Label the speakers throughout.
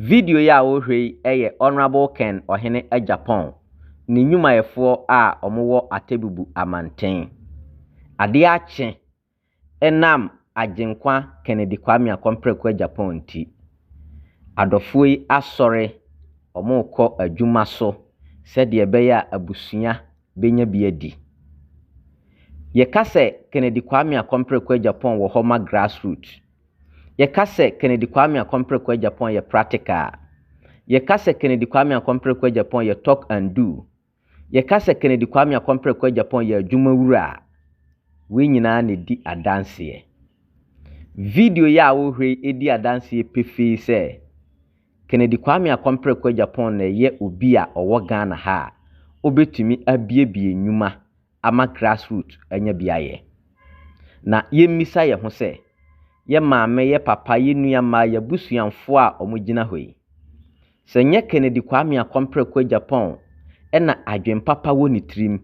Speaker 1: Video yi a worehwɛ yi yɛ Honourable Ken Ɔhene Agyapong ne nnwumayɛfoɔ a wɔwɔ Atebubu Amanten. Adeɛ akye ɛnam Agyenkwa Kennedy Kwame Akɔmprɛku Agyapong nti, adɔfoɔ yi asɔre, wɔrekɔ adwuma so sɛdeɛ ɛbɛyɛ a abusua bɛnya bi adi. Yɛka sɛ Kennedy Kwame Akɔmprɛku Agyapong wɔ hɔ ma grassroot Yɛka sɛ Kennedy Kwame Akompreko Agyapong yɛ practical a, yɛka sɛ Kennedy Kwame Akompreko Agyapong yɛ talk and do. Yɛka sɛ Kennedy Kwame Akompreko Agyapong yɛ adwumawura a, wei nyinaa na ɛdi adanseɛ. Video yi a wohwɛ yi di adanseɛ pefee sɛ Kennedy Kwame Akompreko Agyapong na ɛyɛ obi a ɔwɔ Ghana ha a ɔbɛtumi abuebue nnwuma ama grassroot anya bi ayɛ. Na yɛmmisa yɛn ho sɛ, yɛn maame, yɛn papa, yɛn nua mmaa, yɛn abusuanfoɔ a wɔgyina hɔ yi, sɛ nyɛ Kennedy Kwame Akɔmprɛko Agyapong na adwen papa wɔ ne tirim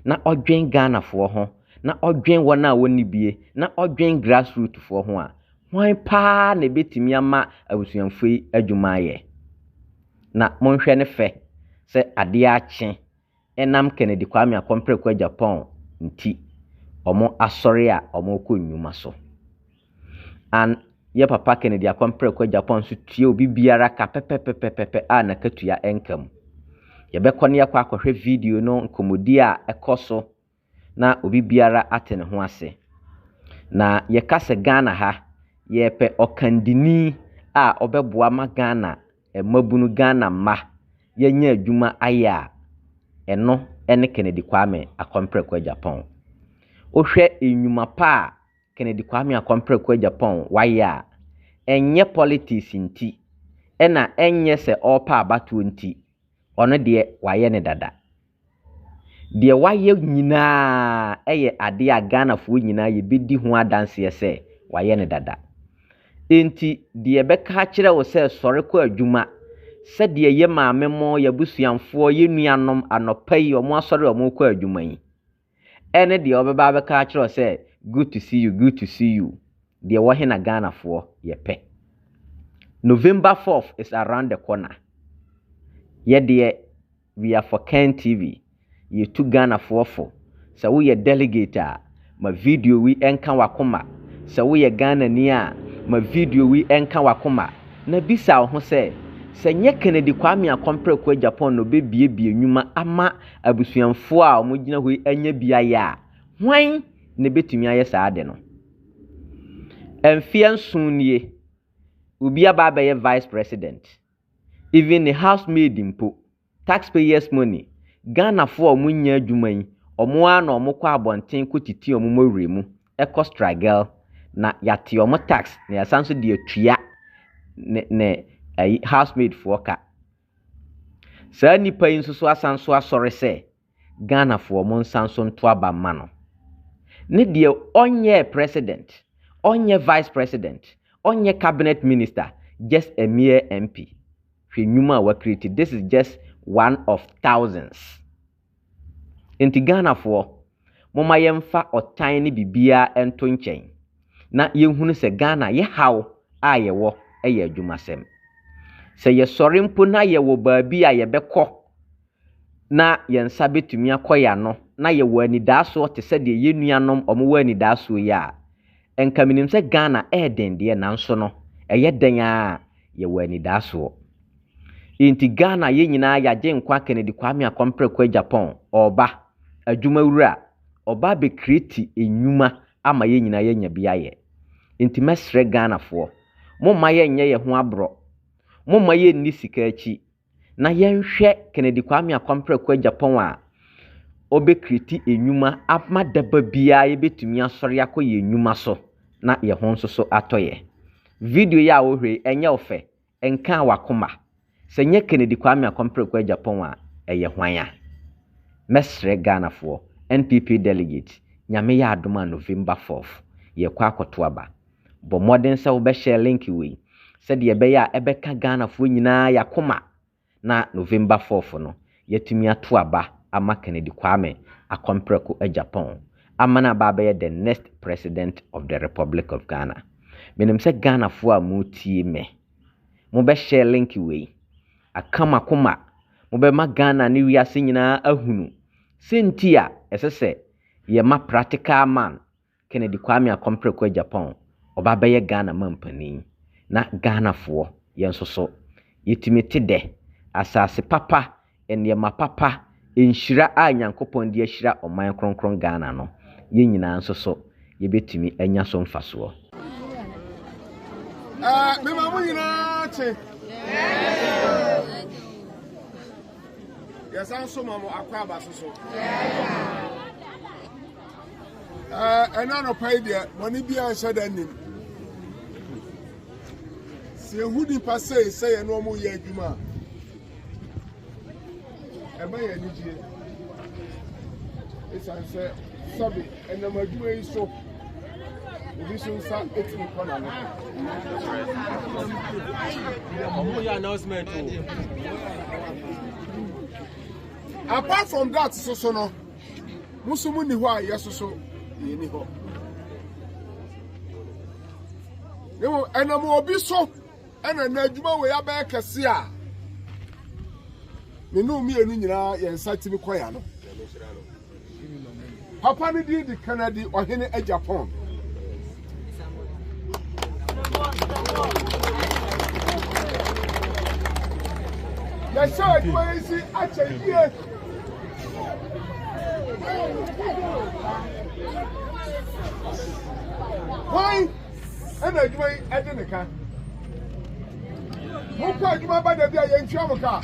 Speaker 1: na ɔdwen Ghanafoɔ ho, na ɔdwen wɔn a wɔnni bie, na ɔdwen grassroot foɔ ho a, hwan paa na ɛbɛtumi ama abusuanfoɔ yi adwuma ayɛ? Na monhwɛ ne fɛ sɛ adeɛ akye ɛnam Kennedy Kwame Akɔmpreko Agyapong nti ɔmo asɔre a ɔmo kɔ nnwuma so. An yɛ papa Kennedy Akɔmpreko Agyapong nso tua obi biara ka pɛpɛpɛpɛpɛ a nakatua ɛnka mu. Yɛbɛkɔ ne yɛkɔ akɔhwɛ video no nkɔmɔdi a ɛkɔ so na obi biara ate ne ho ase. Na yɛka sɛ Ghana ha, yɛpɛ ɔkandini a ɔbɛboa ma Ghana mmabunu, Ghana mma yɛanya adwuma ayɛ a, ɛno ne Kennedy Kwame Akɔmprɛko Agyapong. Wohwɛ nnwuma pa a Kennedy Kwame Akɔmprɛko Agyapong wayɛ a, ɛnyɛ politics nti, ɛna ɛnyɛ sɛ ɔrepɛ abatoɔ nti, ɔno deɛ wayɛ no dada. Deɛ wayɛ nyinaa yɛ adeɛ a Ghanafoɔ nyinaa yɛbɛdi ho adanseɛ sɛ wayɛ no dada. Enti deɛ ɛbɛka akyerɛ wo sɛ sɔre kɔ adwuma, sɛdeɛ yɛ maame mo, yɛ abusuamfoɔ, yɛ nuanom anɔpa yi wɔn asɔre a wɔrekɔ adwuma yi, Ɛne deɛ ɔbɛba abɛka akyerɛ wo sɛ good to see you, good to see you. Deɛ wɔ he na Ghanafoɔ yɛ pɛ. November fourth is around the corner. Yɛdeɛ we are for Ken TV. Yɛtu Ghanafoɔ fo. Sɛ woyɛ delegate a, ma video wi ɛnka wakoma. Sɛ woyɛ Ghanani a, ma video wi ɛnka wakoma. Na bisa wo ho sɛ, sɛ nyɛ Kennedy Kwame Akompreko Agyapong na ɔbɛbiebie nwuma ama Abusuafo a wɔgyina hɔ yi anya beae a, hwan na ebetumi ayɛ saa ade no? Mfeɛ nson nie, obi aba abɛyɛ vice president, even ne house maid mpo, tax payers money, Ghanafoɔ a wɔnya adwuma yi, wɔn ara na wɔkɔ abɔnten kɔtiti wɔn mmɔwerɛ mu kɔ struggle na yɛate wɔn tax na yɛasan nso de atua ne ne ayi house maid foɔ ka. Saa nnipa yi nso so asan so asɔre sɛ Ghanafoɔ mo nsan so nto aba mma no. Ne deɛ ɔnyɛɛ president, ɔnyɛ vice president, ɔnyɛ cabinet minister, just a mere MP. Hwɛ nnwuma a wa create, this is just one of thousands. Enti Ghanafoɔ, momma yɛmfa ɔtan ne biribiara nto nkyɛn na yɛnhunu sɛ Ghana yɛ haw a yɛwɔ yɛ adwumasɛm. Sɛ yɛsɔre mpo na yɛwɔ baabi a yɛbɛkɔ na yɛn nsa bɛtumi akɔ yɛn ano na yɛwɔ anidaasoɔ te sɛ deɛ yɛn nuanom wɔwɔ anidaasoɔ yi a, nka menim sɛ Ghana ɛyɛ den deɛ nanso no ɛyɛ dɛn ara a yɛwɔ anidaasoɔ. Enti Ghana yɛn nyinaa yɛ Agyenkwa Kennedy Kwame Akɔm Preko Agyapong ɔɔba, adwuma wura, ɔɔba abɛ creati nnwuma ama yɛn nyinaa yɛanya bi ayɛ. Enti mɛsrɛ Ghanafoɔ, momma yɛn nyɛ yɛn ho aborɔ, momma yɛn nni sika akyi, na yɛn hwɛ Kennedy Kwame Akɔm Preko Agyapong a ɔbɛ creati nnwuma ama daba biara yɛbɛtumi asɔre akɔ yɛn nnwuma so na yɛn ho nso so atɔ yɛn. Video yi a wo hwɛ yi ɛnyɛ wo fɛ, Ɛnkaa w'akoma? Sɛ nyɛ Kennedy Kwame Akɔmpreko Agyapong a, ɛyɛ hwan a? Mɛsrɛ Ghanafoɔ, NPP Delegate, Nyame yɛ adom a November fourth, yɛrekɔ akɔto aba. Bɔ mmɔden sɛ wobɛ share link wei, sɛdeɛ ɛbɛyɛ a ɛbɛka Ghanafoɔ nyinaa y'akoma na November fourth no yɛatumi ato aba ama Kennedy Kwame akɔ mprɛko agya pɔn ama no aba abɛyɛ the next president of the Republic of Ghana. Menim sɛ Ghanafoɔ a moretie me, mobɛ share link wei, aka mo akoma, mobɛma Ghana ne wiase nyinaa ahunu sɛ nti a ɛsɛ sɛ yɛma practical man Kennedy Kwame Akɔmprɛ kɔɔ Japan, ɔba bɛyɛ Ghana manpanin. Na Ghanafoɔ, yɛn nso so, yɛtumi te dɛ. Asase papa, nneɛma papa, nhyira a Nyankopɔn de ahyira ɔman kronkron Ghana no, yɛn nyinaa nso so, yɛbɛtumi anya so mfasoɔ.
Speaker 2: Mema mo nyinaa kye. Yɛsan so ma mo akwaaba so so. ɛna anɔpa yi deɛ bɔne biara nhyɛ da nnim sɛ yɛhu nnipa sei sɛ yɛne ɔmo yɛ adwuma a ɛma yɛ anigyeɛ ɛsiane sɛ sɛbe ɛnam adwuma yi so obi nso nsa etumi kɔ n'ano.
Speaker 3: ɔmo yɛ announcement o.
Speaker 2: apart from that soso no Mo nso mo nni hɔ a yɛso so yɛnni hɔ. Ne mo ɛnam obi so ɛna na adwuma wei abɛyɛ kɛse a ne ne mmienu nyinaa yɛn nsa tumi kɔ ya no. Papa no din di Kennedy ɔhene Japan. yɛhyɛ adwuma yi si akyɛ yie hwan ɛna adwuma yi ɛde ne ka mokɔ adwuma ba da bi a yɛntua mo ka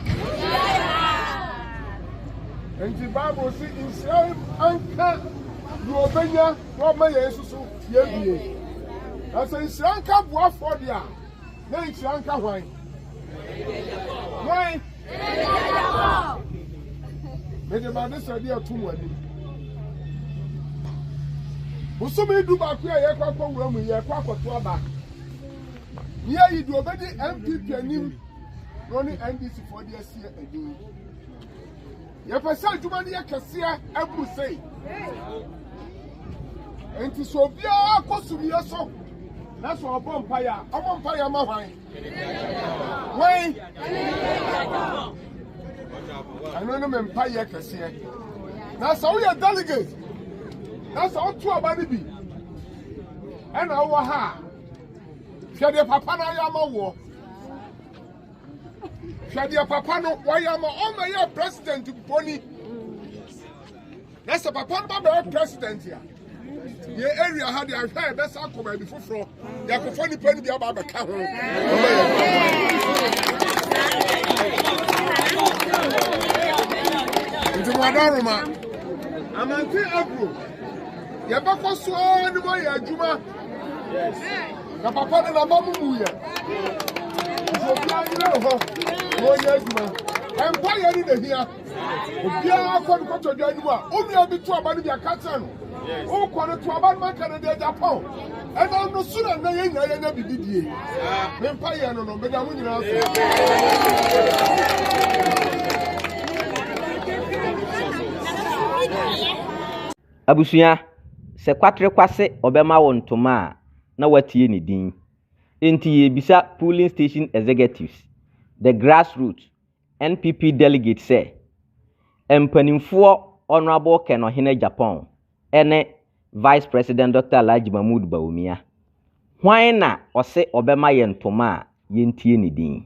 Speaker 2: nti bible si nhyira anka deɛ ɔbɛnya na ɔma yɛn nso so yɛbie. Na sɛ nhyira nka boafoɔ deɛ a, na nhyira nka hwan? Hwan? Mede m'adesrɛdeɛ ato mo anim. Bosome du baako a yɛkɔ akɔ wura mu yɛkɔ akɔto aba. Ne yɛyi deɛ ɔbɛdi NPP anim na ɔne NDC foɔ de asie anim. Yɛpɛ sɛ adwuma no yɛ kɛseɛ ɛboro sei. Enti sɛ obiara kɔ sumiiɛ so na sɛ ɔbɔ mpaeɛ a, ɔbɔ mpaeɛ ma hwan? Hwan? Ɛno ne me mpaeɛ kɛseɛ. Na sɛ woyɛ delegate na sɛ woto aba no bi ɛna wowɔ ha a, hwɛ deɛ papa no ayɛ ama woɔ. Hwɛ deɛ papa no wɔyɛ ama ɔma yɛ president bɔni na sɛ papa no ba bɛyɛ president a yɛ area ha deɛ ahwɛ a yɛbɛsa akɔ baabi foforɔ yɛakɔfa nnipa no bi aba abɛka ho ɔma yɛ nti moada roma amante agro yɛbɛkɔ so ara ne moayɛ adwuma na papa no naba mu mu yɛ nti obiara nyina ne hɔ na ɔnyɛ adwuma ɛmpa yɛ ne nahia obiara kɔ no kɔtɔ dwa anim a onua bi to aba no bi aka kyerɛ no wokɔ no to aba no maka no deɛ japan ɛnam no so na nnɛ yɛ nyinaa yɛnya biribi die mempa yɛ no no meda mo nyinaa so
Speaker 1: Abusua, sɛ Kwatre Kwase ɔbɛma wo ntoma a, na woatie ne din. Enti yɛrebisa Polling Station Executives, the grassroots, NPP delegates sɛ, Mpanimfoɔ Honourable Ken Ɔhene Agyapong ne Vice President Dɔkta Alhaji Mahmood Bawumia, hwan na ɔse ɔbɛma yɛn ntoma a yɛntie ne din?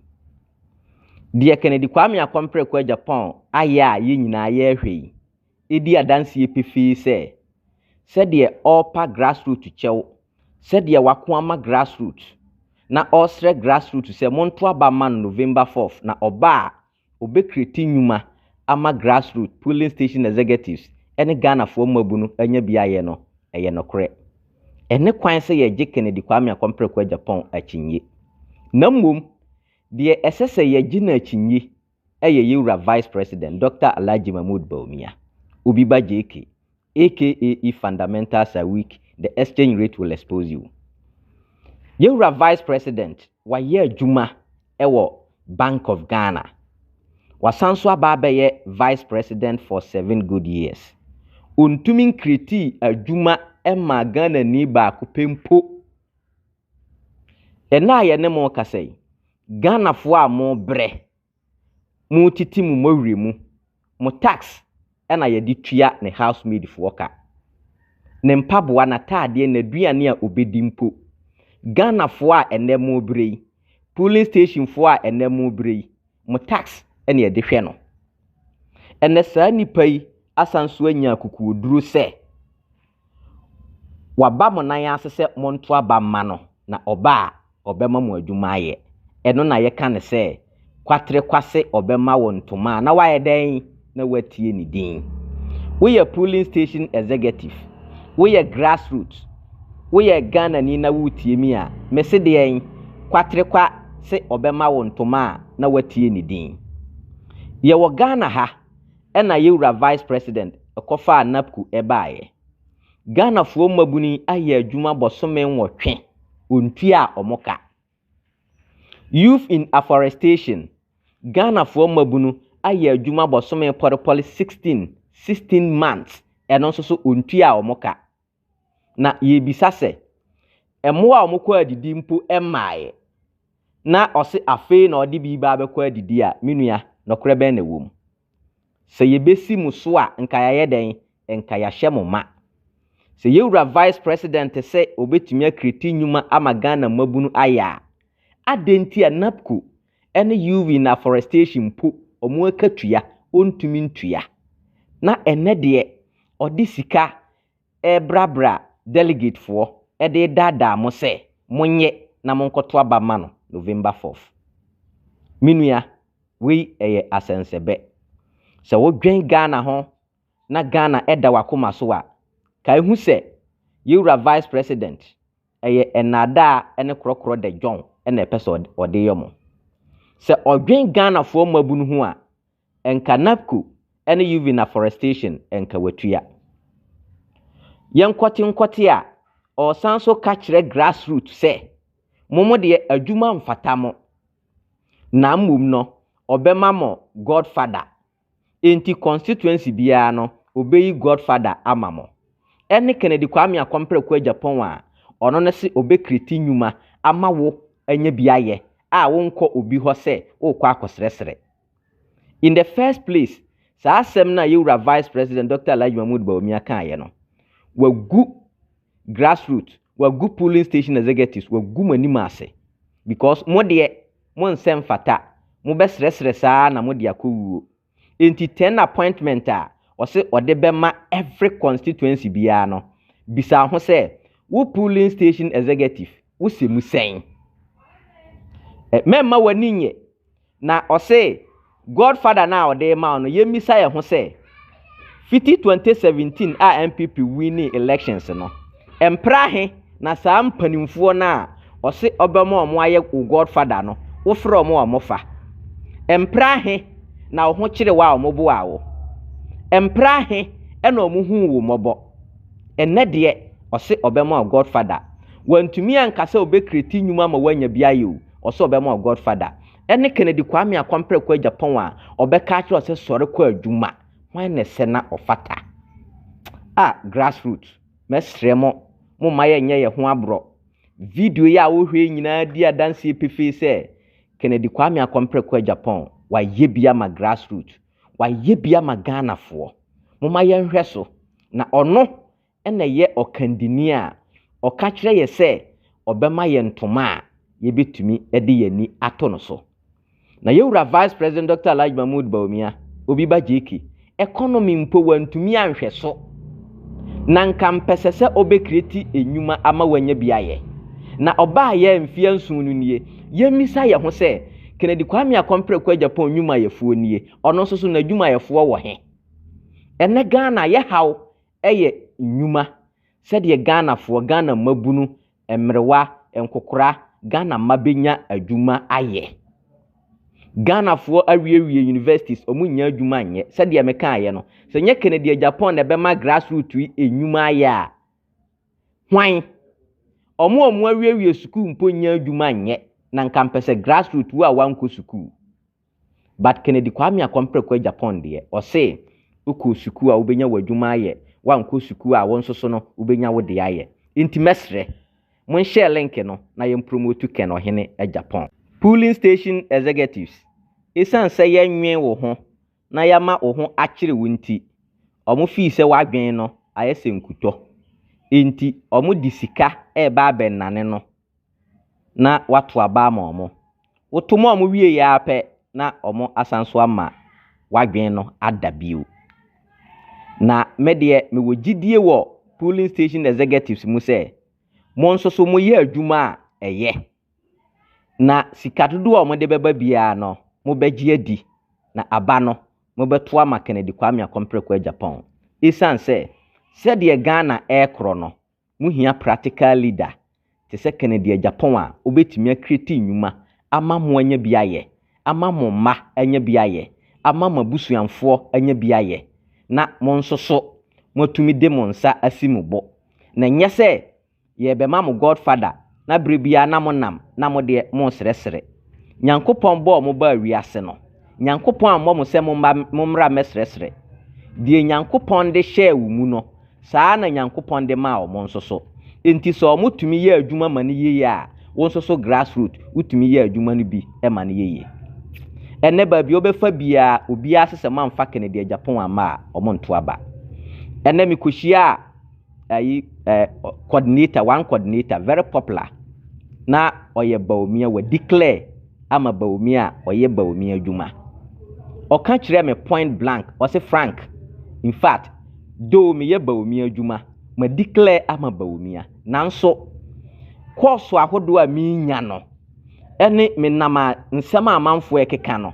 Speaker 1: Deɛ Kennedy Kwame Akompere Ko Agyapong ayɛ a yɛn nyinaa yɛrehwɛ yi, di adanseɛ pefee sɛ, sɛdeɛ ɔrepa grassroot kyɛw, sɛdeɛ wako ama grassroot, na ɔresrɛ grassroot sɛ monto aba mma no November fourth, na ɔba a, ɔbɛkreti nnwuma ama grassroot, polling station executives, ne Ghanafoɔ mmabunu anya bi ayɛ no, ɛyɛ nokorɛ. Ɛnne kwan sɛ yɛgye Kennedy Kwame Akɔmpreko Agyapong akyinnye. Na mmom, deɛ ɛsɛ sɛ yɛgye no akyinnye yɛ yɛn wura Vice President Dɔkta Alhaji Mahmood Bawumia, Obi Ba JK, aka If fundamentals are weak, the exchange rate will expose you. Yɛn wura Vice President, wayɛ adwuma wɔ Bank of Ghana. Wasan nso aba abɛyɛ Vice President for seven good years. Ɔntumi nkretii adwuma mmaa Ghanani baako pɛ mpo. Ɛnnɛ a yɛne mo rekasa yi, Ghanafoɔ a mobrɛ, motete mo mmɔwerɛ mu, mo tax na yɛde tua ne house maid foɔ ka. Ne mpaboa, n'ataadeɛ, n'aduane a ɔbɛdi mpo. Ghanafoɔ a ɛnnɛ mobrɛ yi, polling station foɔ a ɛnnɛ mobrɛ yi, mo tax na yɛde hwɛ no. Ɛnɛ saa nnipa yi asan so anya akokoɔduro sɛ waba mo nan ase sɛ monto aba mma no na ɔba a ɔbɛma mo adwuma ayɛ. Ɛno na yɛka no sɛ kwatere kwase ɔbɛma wo ntoma a na wayɛ dɛn? na woatie ne din. Woyɛ polling station executive, woyɛ grassroot, woyɛ Ghanani na woretie mi a, mese deɛn? Kwaterekwa se ɔbɛma wo ntoma a na woatie ne din. Yɛwɔ Ghana ha ɛna yɛ wura Vice President kɔfaa NAPCU baeɛ. Ghanafoɔ mmabunu yi ayɛ adwuma bɔsome nwɔtwe, ɔntuaa wɔn ka. Youth in Afforestation, Ghanafoɔ mmabunu ayɛ adwuma bosome pɔrepɔre 16, 16 months, ɛno nso so wɔntua wɔn ka. Na yɛrebisa sɛ, mmoa a wɔkɔ adidi mpo mmaeɛ, na ɔse afei na ɔde bi reba abɛkɔ adidi a, me nua, nokorɛ bɛn na ɛwɔ mu? Sɛ yɛbɛsi mo so a nka yɛayɛ dɛn? Nka yɛahyɛ mo ma. Sɛ yɛn wura Vice President sɛ ɔbɛtumi akreati nnwuma ama Ghana mmabunu ayɛ a, adɛn nti a NAPCO ne UV ne Afforestation mpo wɔn akatua ɔntumi ntua? Na ɛnnɛ deɛ ɔde sika rebrabra delegatefoɔ de redaadaa mo sɛ monyɛ na monkɔto aba ma no November fourth. Me nua, wei ɛyɛ asɛnsɛbɛ. Sɛ wodwen Ghana ho na Ghana da w'akoma so a, kae hu sɛ yɛn wura Vice President, ɛyɛ nnaadaa ne korɔkorɔ de John na ɛpɛ sɛ ɔde yɛ mo. Sɛ ɔdwen Ghanafoɔ mmabunu ho a, Nka NAPCO ne Uving Afforestation nka watua. Yɛn nkɔte nkɔte a ɔresan nso ka kyerɛ grassroot sɛ mo mo deɛ adwuma mfata mo na mmom no ɔbɛma mo God father enti constituency biara no ɔbɛyi God father ama mo. Ɛne Kennedy Kwame Akɔmprɛko Agyapong a ɔno no se ɔbɛkriti nnwuma ama wo anya bi ayɛ a wonkɔ obi hɔ sɛ worekɔ akɔsrɛsrɛ. In the first place, saa asɛm no a yɛwura Vice President Dr. Alhaji Mahmoud Bawumia kaeɛ no, wagu grassroot, wagu polling station executives, wagu mo anim ase. Because mo deɛ, mo nsɛ mfata, mo bɛsrɛsrɛ saa na mo de akɔ wuo. Enti 10 appointment a ɔse ɔde bɛma every constituency biara no, bisa ho sɛ, wo polling station executive, wosɛ mu sɛn? Mɛmma w'ani nyɛ. Na ɔse God father no a ɔde rema wo no yɛn misa yɛn ho sɛ fiti 2017 a NPP winning elections no mpra he na saa mpanimfoɔ no a ɔse ɔbɛma ɔmo ayɛ wo God father no wo frɛ ɔmo a ɔmo fa mpra he na wo ho kyere wo a ɔmo boaa wo mpra he na ɔmo huu wo mmɔbɔ ɛnɛ deɛ ɔse ɔbɛma wo God father wantumi anka sɛ ɔbɛkreti nnwuma ma woanya bi ayɛ o Ɔsɛ ɔbɛma ɔ godfather. Ɛne Kennedy Kwame Akwampere kɔ Japan a ɔbɛka akyerɛ ɔ sɛ sɔre kɔ adwuma. Hwan na ɛsɛ na ɔfata? Ah grassroot mɛsrɛ mo momma yɛnyɛ yɛ ho aborɔ. Video yi a wo hwɛ yi nyinaa di adanseɛ pefee sɛ Kennedy Kwame Akwampere kɔ Japan wayɛ bi ama grassroot. Wayɛ bi ama Ghanafoɔ. Momma yɛnhwɛ so na ɔno na ɛyɛ ɔkandini a ɔka kyerɛ yɛn sɛ ɔbɛma yɛn ntoma a yɛbɛtumi de yɛn ani ato no so. Na yɛn wura Vice President Dɔkta Alhaji Mahmood Bawumia, Obi Ba JK, economy mpo wantumi anhwɛ so. Na nka mpɛsɛ sɛ ɔbɛkreti nnwuma ama wanya bi ayɛ. Na ɔbaa yɛ mfeɛ nson no nie, yɛmmisa yɛn ho sɛ, Kennedy Kwame Akɔmpreko Agyapong nnwumayɛfoɔ nie, ɔno nso so n'adwumayɛfoɔ wɔ he? Ɛnnɛ Ghana yɛhaw yɛ nnwuma sɛdeɛ Ghanafoɔ, Ghana mmabunu, mmerewa, nkokora, Ghana mma bɛnya adwuma ayɛ. Ghanafoɔ awiewie universities, wɔn nnya adwuma nyɛ. Sɛdeɛ me kaeɛ no, sɛ nyɛ Kennedy Agyapong na ɛbɛma grassroot yi nnwuma ayɛ a, hwan? Wɔn a wɔn awiewie sukuu mpo nnya adwuma nyɛ, na nka mpɛ sɛ grassroot wo a wankɔ sukuu. But Kennedy Kwame Akɔmpreko Agyapong deɛ, ɔse, Wokɔɔ sukuu a wobɛnya w'adwuma ayɛ, woankɔ sukuu a wo nso so no wobɛnya wo deɛ ayɛ. Nti mɛsrɛ, monhyɛɛ link no na yɛmpromotu Ken Ɔhene Agyapong. Polling Station Executives, Esiane sɛ yɛnnwen wo ho na yɛama wo ho akyere wo nti, wɔn fii sɛ w'adwene no ayɛ sɛ nkutɔ. Enti wɔde sika reba abɛnnane no na wɔato aba ama wɔn. Woto ma wɔn wieeɛ ara pɛ na wɔasan nso ama w'adwene no ada bio. Na me deɛ mewɔ gyidie wɔ polling station executives mu sɛ mo nso so moyɛ adwuma a ɛyɛ na sika dodoɔ a wɔde bɛba biara no mobɛgye adi na aba no mobɛto ama Kennedy Kwame Akompere Kwei Agyapong. Ɛsiane sɛ sɛdeɛ Ghana ɛrekorɔ no Muhia practical leader te sɛ Kennedy Agyapong a obetumi a create nnwuma ama mo anya bi ayɛ, ama mo mma anya bi ayɛ, ama mo abusuanfoɔ anya bi ayɛ, na mo nso so moatumi de mo nsa asi mo bo. Na ɛnyɛ sɛ yɛrebɛma mo godfather. na berɛ biara na monam na mo deɛ moresrɛsrɛ. Nyankopɔn bɔɔ mo baa wiase no, Nyankopɔn ammɔ mo sɛ momma mommra mmɛsrɛsrɛ. Deɛ Nyankopɔn de hyɛɛ wo mu no, saa ara na Nyankopɔn de maa wɔn nso so. Enti sɛ wɔn tumi yɛ adwuma ma no yiye a, wo nso so grassroot wotumi yɛ adwuma no bi ma no yiye. Ɛnnɛ baabi a wobɛfa biara, obiara se sɛ moamfa Kennedy Agyapong amma a, wɔnto aba. Ɛnnɛ mekɔhyiaa ayi ɛɛ eh, coordinator one coordinator very popular na ɔyɛ baomia wɔ declare ama baomia a ɔyɛ baomia adwuma ɔka kyerɛ me point blank ɔse frank in fact though meyɛ baomia adwuma ma declare ama baomia nanso kɔɔso ahodoɔ a menya no ne menam a nsɛm a amanfoɔ rekeka no,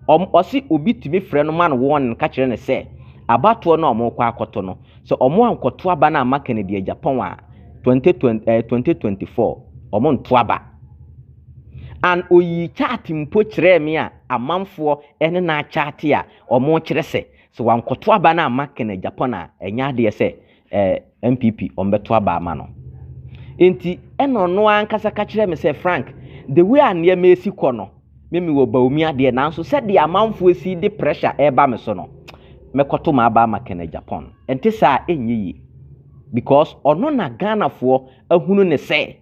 Speaker 1: wɔn ɔse obi tumi frɛ no ma no wɔn ka kyerɛ no sɛ abatoɔ no a wɔrekɔ akɔto no sɛ wɔn ankɔto aba no amma Kennedy agyapɔn a 2020 eh, 2024 wɔn nto aba and oyii chart mpo kyerɛɛ me a amanfoɔ ne no akyate a wɔn kyerɛ sɛ sɛ wankɔto aba no amma Kennedy agyapɔn a ɛnyɛ adeɛ sɛ ɛɛ NPP wɔbɛto aba ama no. Nti ɛna ɔno ankasa ka kyerɛ me sɛ Frank, the way a nneɛma esi kɔ no, me me wɔ Bawumia deɛ nanso sɛdeɛ amanfoɔ esi de pressure ɛreba me so no, mɛkɔto m'aba ama Kenneth Agyapong. Ɛnte saa ɛnyɛ yie because ɔno na Ghanafoɔ ahunu ne sɛ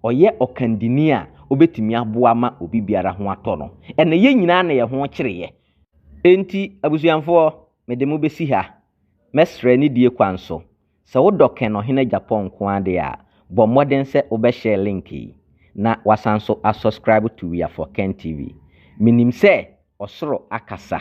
Speaker 1: ɔyɛ ɔkandini a ɔbɛtumi aboa ma obi biara ho atɔ no. Ɛna yɛn nyinaa na yɛn ho kyereeɛ. Nti abusuamfoɔ, mede mo bɛsi ha Mɛsrɛ nidie kwan so, sɛ wo dɔ kɛn Ɔhene Agyapong nko ara deɛ a, bɔ mmɔden sɛ wo bɛ share link yi, na wasan nso a subscribe to We Are For Ken TV. Menim sɛ ɔsoro akasa,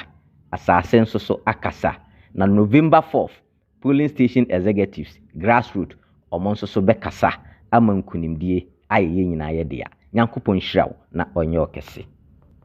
Speaker 1: asase nso so akasa, na November fourth polling station executives, grassroot, wɔn nso so bɛkasa ama nkunimdie ayɛ yɛn nyinaa yɛ dea. Nyankopɔn nhyira wo na ɔnyɛ wo kɛse.